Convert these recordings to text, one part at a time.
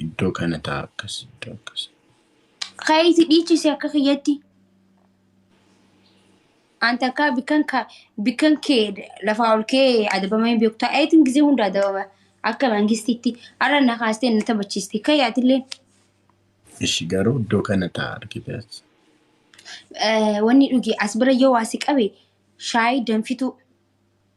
Iddoo kana ta'a akkas iddoo akkas. Kaayiti dhiichisi akka kiyyatti. An takka bikkan ka bikkan kee lafaa ol kee adabama hin beektu. Ayitiin gisee hunda adabama akka mangistiitti har'a na kaastee na taphachiisti. Kayi atilleen Ishi garuu iddoo kana ta'a argite as. eh, wanni dhugi as bira yoo waa si qabe shaayii danfituu.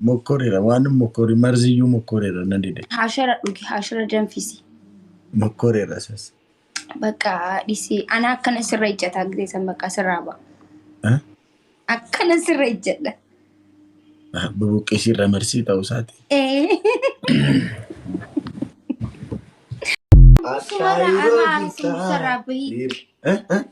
Mokkorera waan mokkori marziyyuu mokkorera na dide. Haashara dhugi haashara danfisi. Mokkorera sas. Bakka dhisi ana akkana sirra ijjata gizee san bakka sirraa ba'a. Ah, Akkana sirra ijjadha. ah, Bubuqqisii irra marsii ta'uu isaati. Sumarra anaa arginu sirraa bahi. Eh, eh,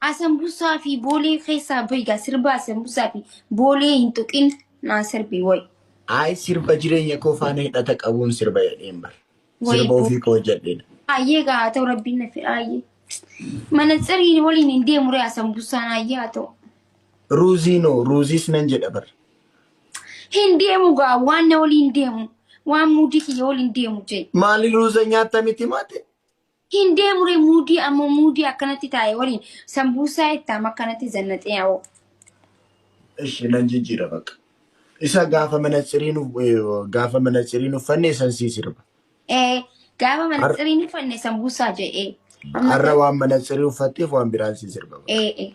Asambusaa fi boolee keessaa bahi gaa sirba asambusaa fi boolee hin tuqin naa sirbi woy. Ayi sirba jireenya koo faana hidhata qabuun sirba jedheen bar. Woy Sirba boo. ofii koo hojjedheedha. Ayyee gaa haa ta'u rabbiin na fedha ayyee. Manatsiriin waliin hin deemu ree asambusaan ayyee haa ta'u. Ruuzii noo ruuziis nan jedha bar. Hin deemu gaa waan na waliin deemu waan muudii kiyya waliin deemu jee. Maali ruuza nyaatta miti maate? Hin deemure muudii ammoo muudii akkanatti taa'e waliin sambuusaa ittaam akkanatti zannaxee awoo. Ishi nan jijjiira bakka. Isa gaafa manatsiriin uf- eh, gaafa manatsiriin uffanne san sii sirba. Ee gaafa Har- manatsiriin uffanne sambuusaa jedhee. Amma Har'a waan manatsirii uffatteef waan biraan sii sirba bakka. ee ee.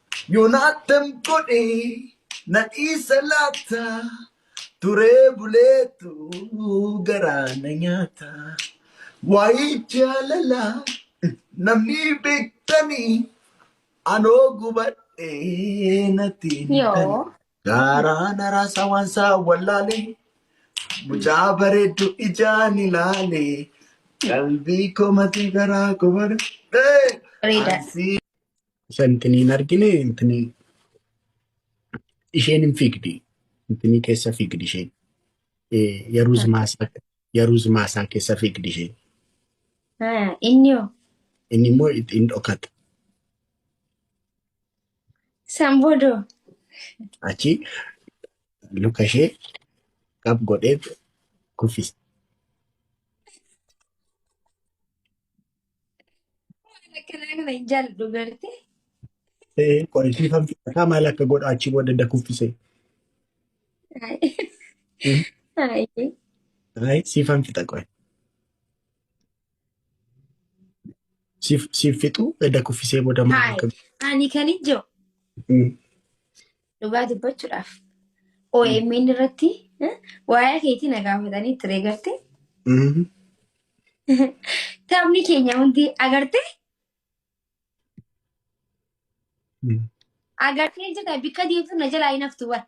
Yonatan godhe na dhiisa laata turee buleetu garaa na nyaata waa'ee jaalala namni beektanii anoo gubadhee natti hin himtanii Yoo. gaaraa na raasaa waan isaa wallaalee mucaa bareeddu ijaan ilaalee qalbii koo matii garaa koo bareedee Reedaa. ansii Isa intini hin argine intini isheen hin fiigdi. Intini keessa fiigdi isheen. Eh, Yaruuz Takka. maasaa Yaruuz maasaa keessa fiigdi isheen. Ah, Inni hoo? Inni immoo itti hin dhokata. San booda hoo? Achi luka ishee qab godhee kuffisa. Akkanaa kana hin jaalladhu beekte. Ee, Qo'ee fi kan filataa maal akka godha achi booda da kuffisee. Hmm. Haayee. Ayi siifan fixa qo'e. Siif siif fixu da kuffisee booda maal akka Haayee. Ani kan ijoo. Hmm. Dhugaa dubbachuudhaaf OMN irratti eh, waa'ee keetii na gaafatanii ture garte. Mhm. Taphni keenya hundi agarte Mhm. agartee jirta bakka deemtu na jalaa hin haftu bar.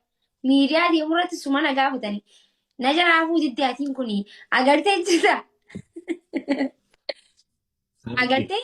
Miidiyaa deemu irratti suma na gaafatanii. Na jalaa hafuu didde atiin kun agartee jirta. Agartee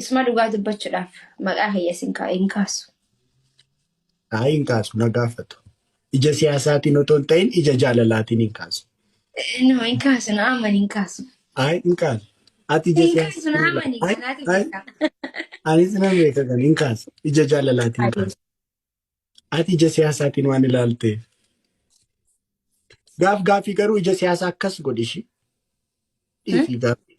Isma dhugaa dubbachudhaaf maqaa kiyya sin kaa hin kaasu. Haa hin kaasu na gaafatu. Ija siyaasaatiin otoo hin ta'in ija jaalalaatiin hin kaasu. No hin kaasu na aman hin kaasu. Haa hin kaasu. Ati ija Hin kaasu na siyaasaatiin amani kanaatu beekaa. Anis nan beeka kan hin kaasu. Ija jaalalaatiin hin kaasu. Ati ija siyaasaatiin waan ilaalteef. Gaaf gaafii garuu ija siyaasaa akkas godhi ishii. Dhiifii gaafii.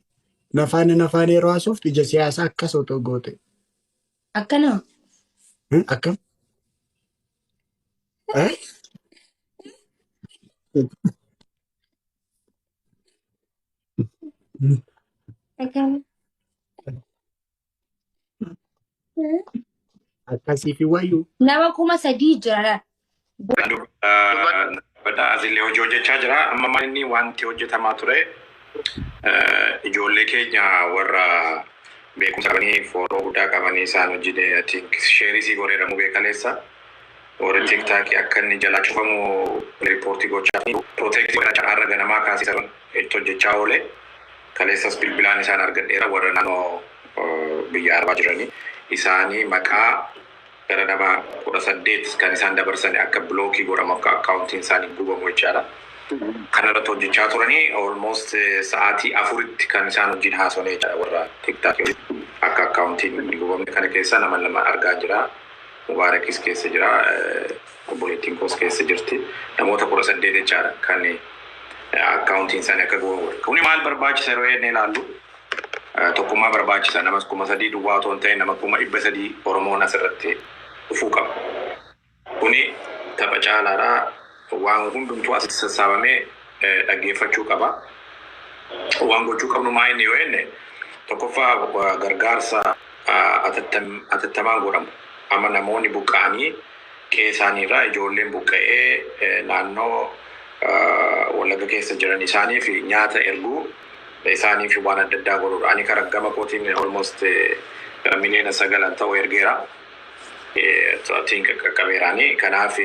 Nafaana nafaana yeroo haasoftu ija siyaasaa akkas otoo goote. Akkanaa. Hmm, Akkam? Eh? Akkanaa. Akkasiifi wayyu. Nama kuma sadii jira laal. Badhaa asillee hojii hojjechaa jira. Amma maal inni wanti hojjetamaa ture eh, ijoollee keenya warra beekumsa qabanii fooloo guddaa qabanii isaan hojii de- I think sheerii sii goree dhamuu beekaleessa. Warri tiktaakii akka inni jalaa cufamu riippoortii gochaa fi pirooteektii godhachaa har'a ganamaa kaasee saban itti hojjechaa oole. Kaleessas bilbilaan isaan argadheera warra naannoo biyya arabaa jiranii. Isaanii maqaa gara nama 18 kan isaan dabarsani akka bilookii godhamu akka akkaawuntiin isaanii gubamu jechaadha. Kana irratti hojjechaa turanii almost sa'aatii afuritti kan isaan wajjin haasofne jechaadha warra tiktaakii wajjin. Akka akkaawuntiin hin gubamne kana keessa nama lama argaan jira. Mubaarakis keessa jira. Obboleettiin koos keessa jirti. Namoota 18 jechaadha kan akkaawuntiin isaanii akka gubamu godhe. Kuni maal barbaachisa yeroo jennee ilaallu tokkummaa barbaachisa. Namas kuma sadii duwwaa otoo hin ta'in nama kuma dhibba sadii Oromoon asirratti dhufuu qaba. Kuni tapha caalaadha. Waan hundumtuu asitti sassaabamee dhaggeeffachuu qaba. Waan gochuu qabnu maa inni yoo jenne tokkoffaa gargaarsa atattamaan godhamu. Amma namoonni buqqa'anii Qe'ee isaanii irraa ijoolleen buqqa'ee naannoo Wallagga keessa jiran isaaniif nyaata erguu, isaaniif waan adda addaa godhuu dha. Ani kara gama kootiin almost miliyoona sagalan ta'u ergeera. I think qaqqabeera ani. Kanaaf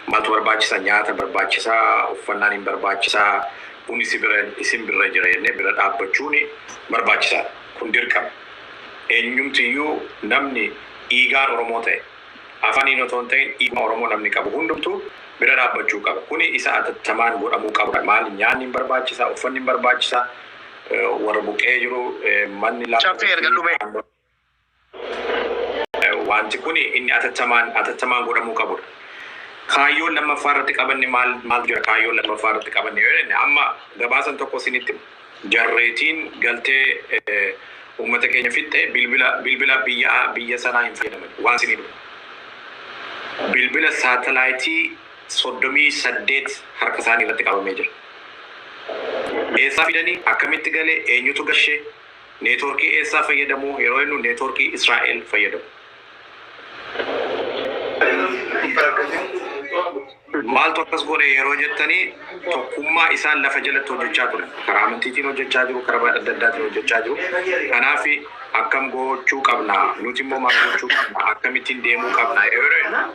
maaltu barbaachisa? Nyaata barbaachisa, uffannaan hin barbaachisa, kuni si bira, isin birra jira jennee bira dhaabbachuun barbaachisaa dha. Kun dirqama. Eenyumti iyyuu namni dhiigaan Oromoo ta'e, afaniin otoo hin ta'in dhiiguma Oromoo namni qabu hundumtuu bira dhaabbachuu qaba. Kuni isa atattamaan godhamuu qabudha. Maali nyaanni hin barbaachisa, uffanni hin barbaachisa, warra buqqa'ee jiru manni lafa Caffee erga irratti dhumee. naannoo Wanti kuni inni atattamaan atattamaan godhamuu qabudha. Kaayyoon lammaffaa irratti qabanne maal maaltu jira? Kaayyoon lammaffaa irratti qabanne yoo jenne amma gabaasan tokko isinitti hima. jarreetiin galtee ummata keenya fixxe bilbila bilbila biyya biyya sanaa hin fayyadamani waan isinii dhufu bilbila saatalaayitii 38 harka isaanii irratti qabamee jira eessaa fidani akkamitti gale eenyutu gashe neetworkii eessaa fayyadamu yeroo jennu neetworkii Israa'el fayyadamu maaltu akkas godhe yeroo jettanii tokkummaa isaan lafa jalatti hojjechaa ture karaa amantiitiin hojjechaa jiru karaa adda addaatiin hojjechaa jiru kanaaf akkam gochuu qabna nuti immoo maal gochuu qabna akkamittiin deemuu qabna yeroo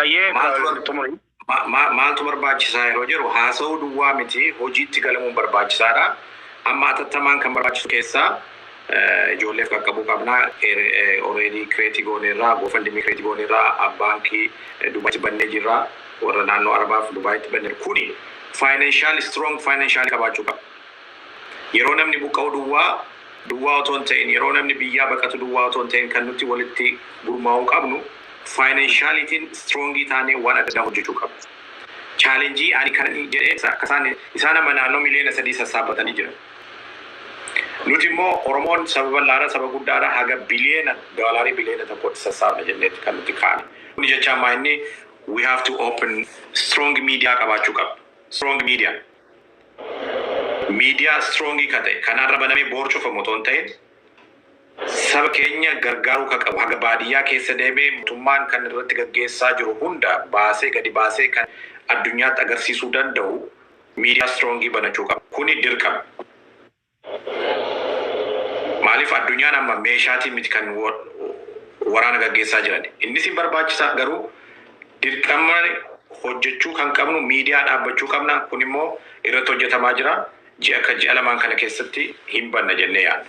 Ayyee Maaltu bar- xumuri. Ma- ma- maaltu barbaachisaa yeroo jedhu haasa'uu duwwaa miti hojiitti galamuun barbaachisaadha. Amma atattamaan kan barbaachisu keessaa eh, ijoolleef qaqqabuu qabna. Oreedii kireetii gooneerraa, goofandimii kireetii gooneerraa, baankii eh, Dubaayitti bannee jirra. Warra naannoo Arabaaf Dubaayitti banneera. Kuni faayinaanshaal, strong faayinaanshaal qabaachuu qaba. Yeroo namni buqqa'u duwwaa duwwaa otoo hin ta'in, yeroo namni biyyaa baqatu duwwaa otoo hin ta'in kan nuti walitti gurmaa'uu qabnu faayinanshaaliitiin istiroongii taanee waan adda addaa hojjechuu qabna. Chaalenjii ani kanan jedhe isa akka isaan isaan amma naannoo miliyoona sadii sassaabbatanii jiran. Nuti immoo Oromoon saba bal'aadha, saba guddaadha haga biliyoona doolaarii biliyoona tokkootti sassaabna jenneeti kan nuti kaane. Kuni jechaan maa inni we have to open strong media qabaachuu qabna. Strong media. Miidiyaa strong ka ta'e, kan har'a banamee boor cufamu otoo hin ta'in, saba keenya gargaaruu ka qabu, haga baadiyyaa keessa deemee mootummaan kan irratti gaggeessaa jiru hunda baasee gadi baasee kan addunyaatti agarsiisuu danda'u miidiyaa strong banachuu qaba. Kuni dirqama. Maaliif addunyaan amma meeshaatiin miti kan waraana gaggeessaa jiran. Innis hin barbaachisa garuu dirqama hojjechuu kan qabnu miidiyaa dhaabbachuu qabna. Kun immoo irratti hojjetamaa jira. Ji'a akka ji'a lamaan kana keessatti hin banna jennee yaadna.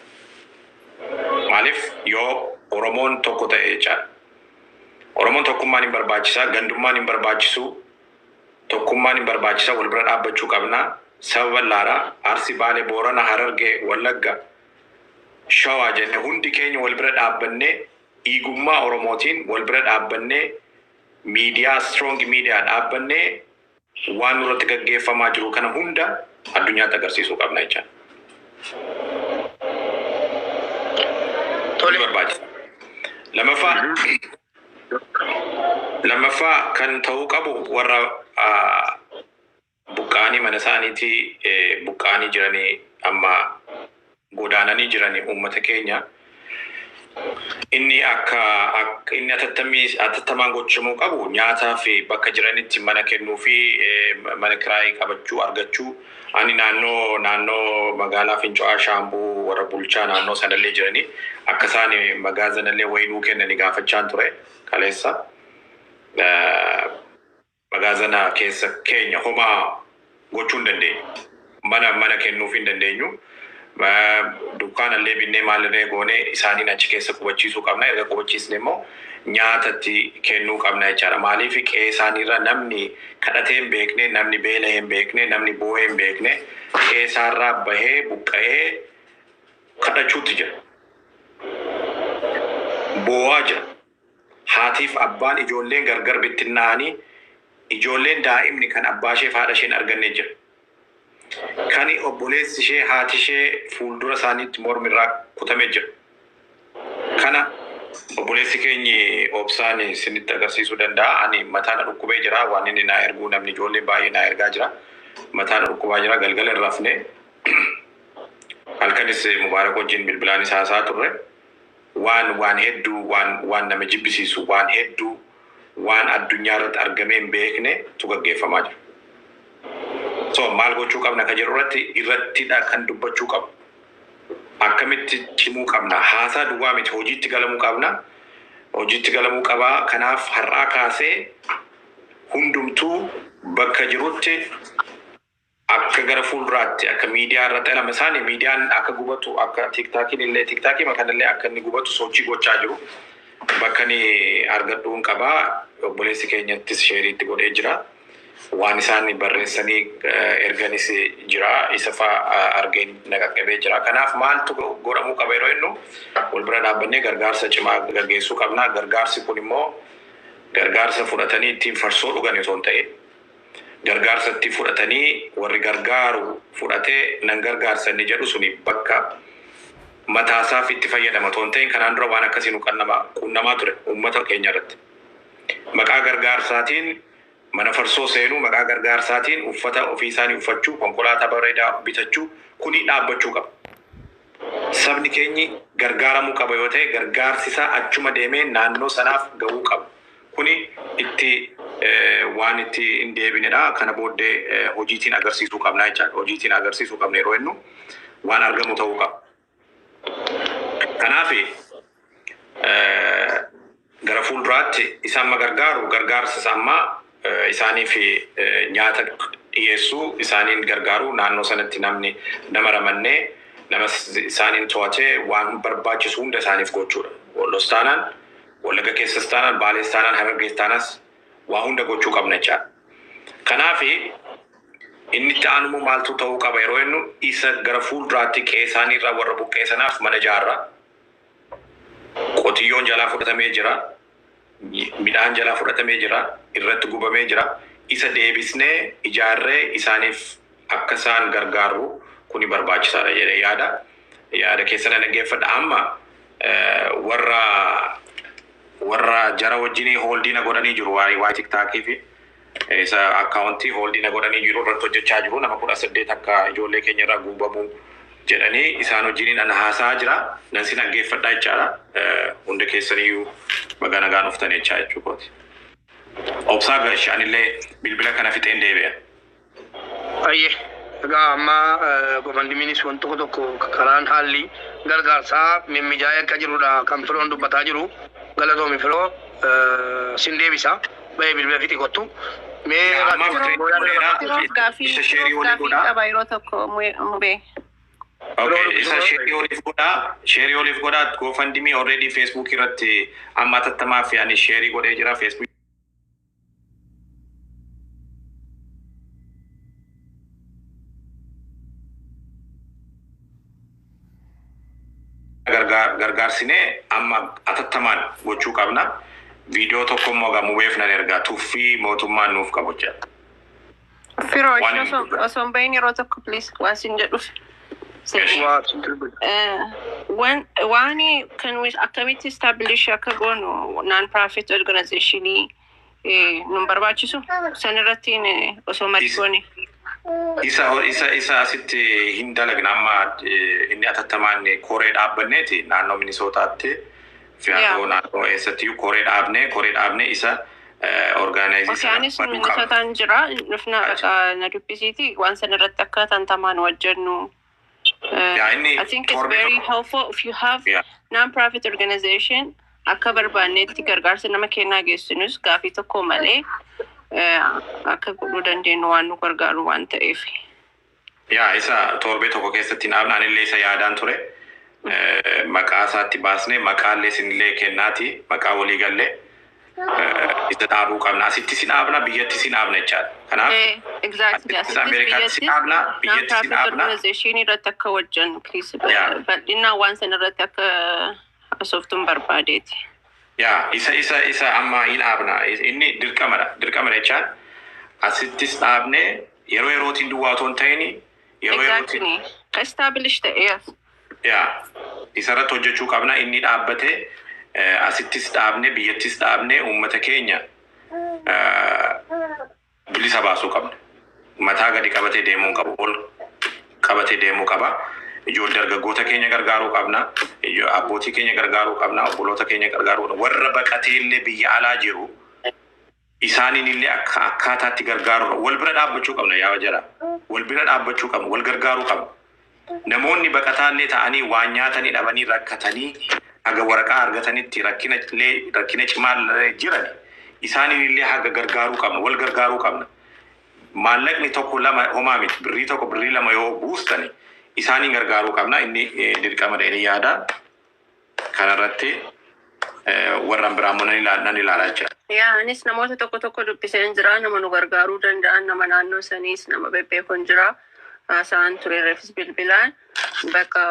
Maaliif yoo Oromoon tokko ta'e jechaadha. Oromoon tokkummaan hin barbaachisa, gandummaan hin barbaachisu, Tokkummaan hin barbaachisa wal bira dhaabbachuu qabna saba bal'aadha Arsi Baale Boorana Hararge Wallagga Shawaa jenne hundi keenya wal bira dhaabbannee dhiigummaa Oromootiin wal bira dhaabbannee miidiyaa strong miidiyaa dhaabbannee waan nurratti gaggeeffamaa jiru kana hunda addunyaatti agarsiisuu qabna jecha ni Tole. barbaachisa lamaffaa Lammaffaa kan ta'uu qabu warra buqqa'anii mana isaaniitii buqqa'anii jiranii amma godaananii jiranii uummata keenya inni akka inni atattammii atattamaan gochamuu qabu nyaataa fi bakka jiranitti mana kennuu fi mana kiraayii qabachuu argachuu Ani naannoo naannoo magaalaa Finco'aa Shaambuu warra bulchaa naannoo sanallee jiranii akka isaan magaazanallee wayii nuu kennani gaafachaan ture kaleessa. Magaazana keessa keenya homaa gochuu hin dandeenyu. Mana mana kennuuf hin dandeenyu. Dukkaana illee binnee maal irree goone isaaniin achi keessa qubachiisuu qabna. Erga qubachiisne immoo nyaata itti kennuu qabna jechaadha. Maaliif qe'ee isaaniirra namni kadhatee hin beekne, namni beela'ee hin beekne, namni boo'ee hin beekne qe'ee isaarraa bahee buqqa'ee kadhachuutti jira. Boo'aa jira. Haatiif abbaan ijoolleen gargar bittinnaa'anii ijoolleen daa'imni kan abbaasheef haadhashee hin arganne jira. Kani obboleessishee haatishee fuuldura isaaniitti mormi irraa kutame jira. Kana obboleessi keenyi Obsaan isinitti agarsiisuu danda'a. Ani mataa na dhukkubee jira. Waan inni naa erguu namni ijoolleen baay'ee naa ergaa jira. Mataa na dhukkubaa jira. Galgala hin rafne. Halkanis Mubaarak wajjin bilbilaanis haasa'aa turre. waan waan hedduu waan waan nama jibbisiisu waan hedduu waan addunyaa irratti argamee hin beekne tu gaggeeffamaa jira. So maal gochuu qabna ka jedhu irratti irrattidha kan dubbachuu qabu. Akkamitti cimuu qabna? Haasaa duwwaa miti hojiitti galamuu qabna. Hojiitti galamuu qabaa. Kanaaf har'aa kaasee hundumtuu bakka jirutti Akka gara fuulduraatti akka miidiyaa irratti lama isaani miidiyaan akka gubatu akka tiktaakiin illee tiktaakiima kana illee akka inni gubatu sochii gochaa jiru. Bakka ani argadhuun qaba obboleessi keenyattis sheerii itti godhee jira. Waan isaan barreessanii erganis jira isa fa argeen na qaqqabee jira. Kanaaf maaltu godhamuu qaba yeroo jennu wal bira dhaabbannee gargaarsa cimaa gaggeessuu qabna. Gargaarsi kun immoo gargaarsa fudhatanii ittiin farsoo dhugan osoo hin ta'in gargaarsa itti fudhatanii warri gargaaru fudhate nan gargaarsa inni jedhu suni bakka mataasaaf itti fayyadama otoo hin ta'in kanaan dura waan akkasii nu qannama qunnamaa ture uummata keenya irratti. Maqaa gargaarsaatiin mana farsoo seenuu, maqaa gargaarsaatiin uffata ofii isaanii uffachuu, konkolaataa bareedaa bitachuu kuni dhaabbachuu qaba. Sabni keenyi gargaaramuu qaba yoo ta'e gargaarsi isaa achuma deemee naannoo sanaaf ga'uu qaba. Kuni itti waan itti hin deebinedha. Kana booddee hojiitiin agarsiisuu qabna jechaadha. Hojiitiin agarsiisuu qabna yeroo jennu waan argamu ta'uu qaba. Kanaaf gara fuulduraatti isa amma gargaaru gargaarsa isa ammaa isaaniif nyaata dhiyeessuu isaaniin gargaaruu naannoo sanatti namni nama ramannee nama isaaniin to'atee waan barbaachisu hunda isaaniif gochuudha. Lostaanaan Wallagga keessas taanaan, Baalees taanaan, Harargees taanaas waa hunda gochuu qabna jechaadha. Kanaaf inni itti aanu immoo maaltu ta'uu qaba yeroo jennu isa gara fuulduraatti qe'ee isaanii irraa warra buqqa'e sanaaf mana ijaarra. Qotiyyoon jalaa fudhatamee jira. Midhaan jalaa fudhatamee jira. Irratti gubamee jira. Isa deebisnee ijaarree isaaniif akka isaan gargaarru kuni barbaachisaadha jedhee yaada. Yaada keessa na dhaggeeffadha. Amma warra warra jara wajjin hooldii na godhanii jiru waa'ee waa'ee tiktaakii fi isa akkaawuntii hooldii na godhanii jiru irratti hojjechaa jiru nama kudha saddeet akka ijoollee keenya irraa guubamu jedhanii isaan wajjiniin ana haasaa jira nan si dhaggeeffadha jechaadha hunda keessaniyyuu baga nagaan dhuftan jechaa jechuu kooti. Obsaa Garsh anillee bilbila kana fixeen deebi'a. Ayyee egaa amma gofandimiinis wan tokko tokko karaan haalli gargaarsaa mimmijaa'ee akka jirudha kan firoon dubbataa jiru galatoomi firoo sin deebisa ba'ee bilbila fixi kottu mee Yaa, amma rakkoo battery booyaa fuudheera. dalagaa Firoof Isa gaafii share firoof waliin gaafii godhaa. qaba yeroo tokko mube- mubee. Okay, isa sheerii oliif godhaa sheerii oliif godhaa gofandimii already facebook irratti amma atattamaa fi ani sheerii godhee jira facebook gargaar- gargaarsinee amma atattamaan gochuu qabna. Viidiyoo tokko immoo gamubeef nan ergaa tuffii mootummaan nuuf qabu jedha. Firoo Waan ishee hin osoo dubbatu. osoo hin bahin yeroo tokko please waan sin jedhuuf. Eshi. Waa dubbatu. Eh, Waan waan kan nuyi akkamitti establish akka goonu non profit organization eh, nun barbaachisu san irratti eh, osoo marii Is- goone. isa isa isa asitti hin dalagna amma eh, inni atattamaan koree dhaabbanneeti naannoo minisootaatti fi haa ta'u naannoo eessattiyyuu koree dhaabnee koree dhaabnee isa orgaanaayizii sana Isaanis nu baduu qabna. musataan jira dhufnaa dhaqa na dubbisiiti waan san irratti akka tantamaan wajjennu. Yaa inni I think it's torbee very tokko- helpful if you have Yeah. non-profit organization akka barbaannetti gargaarsa nama kennaa geessinus gaafii tokko malee eh, akka godhuu dandeenyu waan nu gargaaru waan ta'eef. Yaa isa toorbee tokko keessatti hin dhaabne anillee isa yaadaan ture maqaa isaatti baasnee maqaallee isinillee kennaati maqaa walii galle isa dhaabuu qabna asitti isin dhaabna biyyatti isin dhaabna jechaadha kanaaf Eh, exactly. asitti Asittis ameerikaatti isin biyyattis dhaabna non biyyatti isin profit dhaabna organization irratti akka wajjan kiis Yeah. bal'inaan waan san irratti akka haasoftuun barbaadeeti. Yaa isa isa isa amma hin dhaabna inni dirqamadha dirqama jechaan asittis dhaabne yeroo yerootiin duwwaa otoo hin ta'ini yeroo yerootiin Exactly. Establish the yes. yaa isarratti hojjechuu qabna inni dhaabbate eh, asittis dhaabne biyyattis dhaabne uummata keenya eh, bilisa baasuu qabna. Mataa gadi qabatee deemuu hin qabu. Ol qabatee deemuu qaba. Ijoollee dargaggoota keenya gargaaruu qabna. Ijo- Abbootii keenya gargaaruu qabna. Obboloota keenya gargaaruu qabna. Warra baqatee illee biyya alaa jiru isaaniin illee akka akkaataatti gargaaruu qabna. Wal bira dhaabbachuu qabna yaa jara. Wal bira dhaabbachuu qabna. Wal gargaaruu qabna. Namoonni baqataallee ta'anii waan nyaatanii dhabanii rakkatanii haga waraqaa argatanitti rakkina illee rakkina cimaallee jiran isaaniin illee haga gargaaruu qabna wal gargaaruu qabna maallaqni tokko lama homaa miti birrii tokko birrii lama yoo buustani isaaniin gargaaruu qabna inni dirqama dha jedhee yaada. kana irratti warran biraa immoo nan ilaala nan ilaala jecha. Yaa anis namoota tokko tokko dubbiseen jira nama nu gargaaruu danda'an nama naannoo saniis nama bebbeekon jira haasa'an ture refis bilbilaan bakka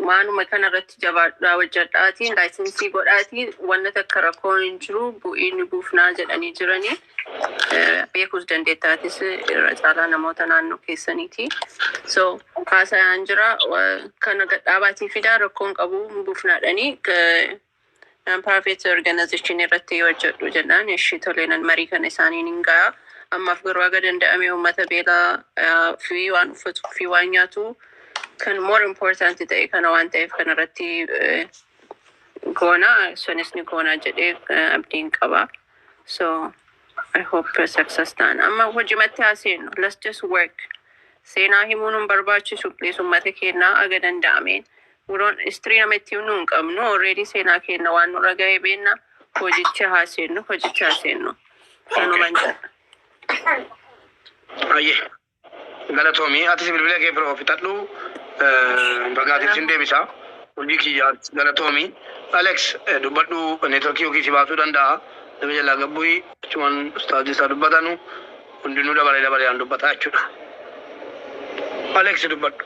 maanuma kana irratti jabaadhaa hojjedhaatiin laayisensii godhaatiin wanna takka rakkoo hin jiru bu'iin buufnaa jedhanii jiranii. beekuus dandeetta atis irra caalaa namoota naannoo keessaniiti. So haasayaan jira kana gadhaabaatii fidaa rakkoon qabu buufnaadhanii non-profit organization irratti hojjedhu jennaan ishii toleenan marii kana isaaniin hin ga'a. Ammaaf garuu haga danda'ame uummata beelaa fi waan uffatuu fi waan nyaatu kan more important ta'e kana waan ta'eef kana irratti goona sunis ni goona jedhee abdiin qaba. So I hope success ta'an. Amma hojimatti haa seennu. Let's just work. Seenaa himuun hin barbaachisu. Please uummata keenyaa aga danda'ameen. We don't history nama itti himnu hin qabnu. Already seenaa keenya waan nurra ga'e beenna. Hojichi haa seennu. Hojichi haa seennu. Kanuman jedha. Ayyee. Galatomi atis bilbila kee bro fixadhu bagaa ati sin deebisa hojii kiyya galatomi Alex dubbadhu networkii yookiin si baasuu danda'a nama jalaa gabbu'i achumaan ustaazii isaa dubbatanu hundinuu dabaree dabaree aan dubbataa jechuudha Alex dubbadhu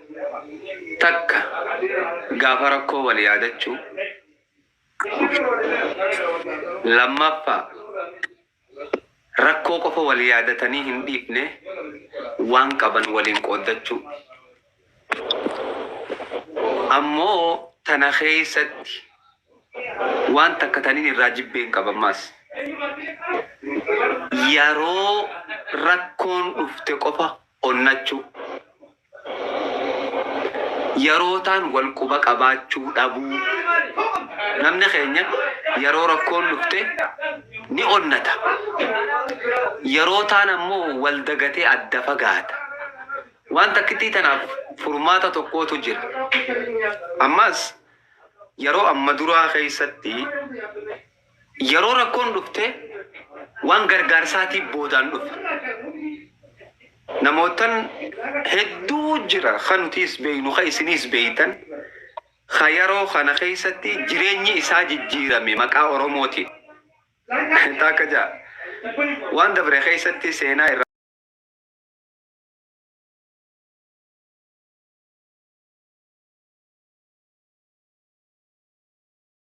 Takka gaafa rakkoo wal yaadachuu Lammaffaa Rakkoo qofa wal yaadatanii hin dhiifne waan qaban waliin qooddachuu Ammoo tana keessatti waan takka taniin irraa jibbeen qaba ammaas Yaroo rakkoon dhufte qofa onnachuu, yarootaan wal quba qabaachuu dhabuu, namni keenya yaroo rakkoon dhufte ni onnata, yarootaan ammoo wal dagatee adda fagaata. Waan takkittii tanaaf furmaata tokkootu jira. Ammaas yaroo amma duraa keessatti, Yeroo rakkoon dhufte waan gargaarsaatii boodaan dhufa. Namoottan hedduu jira ka nutiis beeynu ka isiniis beeytan ka yeroo kana keessatti jireenyi isaa jijjiirame maqaa Oromootiin. Taakka ja'a. Waan dabre keessatti seenaa irraa.